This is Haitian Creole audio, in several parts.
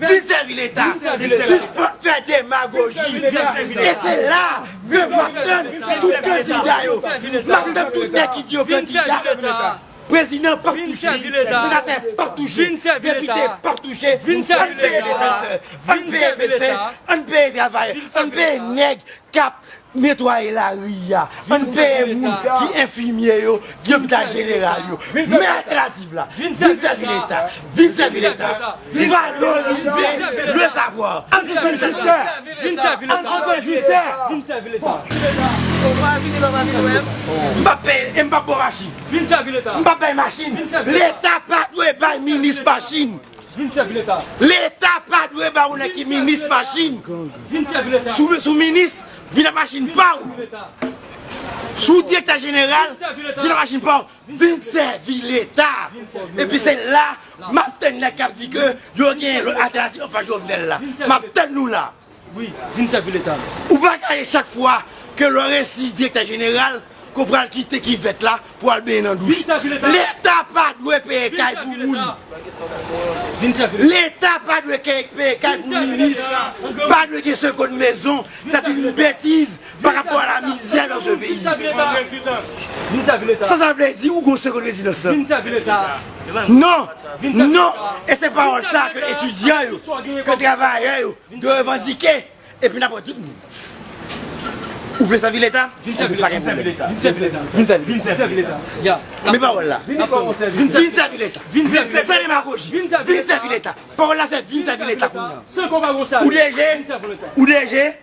Vin sèvi leta, sispann fè demagoji e se la ke map tann tout kandida yo, map tann tout nèg ki di yo kandida, prezidan pap touche, senatè pap touche, depite pap touche, ann peye defensè, ann peye medsen, ann peye travayè, ann peye nèg kap Netwaye lari a, ann peye moun ki enfimye yo, ki lopital jeneral yo. Men altènativ la, vin sèvi leta, vin sèvi leta, vin valorize le savwa. Ann vin sèvi leta, vin sèvi leta, ann vin sèvi leta, vin sèvi leta. Ou pa vini lè w pa vin wè m. M pap peye e m pap ba w machin. Vin sèvi leta. M pap bay machin. Vin sèvi leta. Leta pa dwe bay minis machin. Vin sèvi leta. Leta pa dwe ba ou nan ki minis machin. Vin sèvi leta. Si w sou minis, vin ak machin pa ou. Si w direktè jeneral, vin ak machin pa ou. Vin sèvi leta. Epi se la, m ap tann nèg k ap di ke yo gen lòt altènatif anfas Jovenel la. M ap tann nou la. Wi, vin sèvi leta nou. Ou pa ka ye chak fwa ke lè w resi direktè jeneral ke w pral kite kivèt la pou w al benyen nan douch. Leta pa dwe peye kay pou moun. Leta pa dwe peye kay pou minis. Pa dwe gen sekonn mezon. Sa se yon betiz Pa rapò a la mizè nan ze peyi. Sa sa vle di ou gen yon segond rezidans la? Non! Non! E se pawòl sa a ke etidyan yo, ke travayè yo dwe revandike epi n ap redi pou nou. Ou vle sèvi leta? Ebyen pa gen pwoblèm. Vin sèvi leta. Men pawòl la. Vin sèvi leta. San demagoji. Vin sèvi leta. Pawòl la se vin sèvi leta kounya. Ou deje? Ou deje?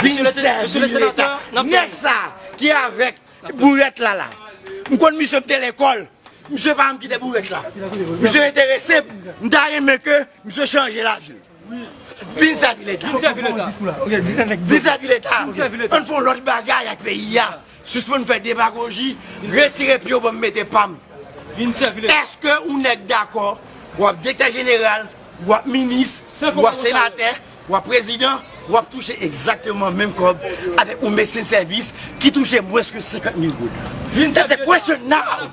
Vin sèvi leta. Nèg sa ki avèk bourèt la la. M konn misye m te lekòl. Misye pa janm kite bourèt la. Misye enterese m. M ta renmen ke misye chanje lavi l. Vin sèvi leta. Vin sèvi leta. Ann fon lòt bagay ak peyi a. Sispann fè demagoji. Retire pye w banm mete pa m. Eske ou nèg dakò wap direktè jeneral, wap minis, wap senatè. Wap prezidan, wap touche egzakteman menm kòb avèk yon medsen sèvis ki touche mwens ke 50 mil goud. That's the question now!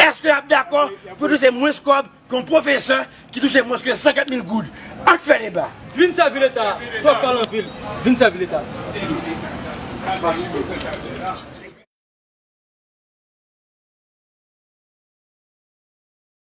Èske yap dakò pou touche mwens kòb ke yon pwofesè ki touche mwens ke 50 mil goud? Ann fè deba! Vin sèvi leta, twòp pale anpil, vin sèvi leta.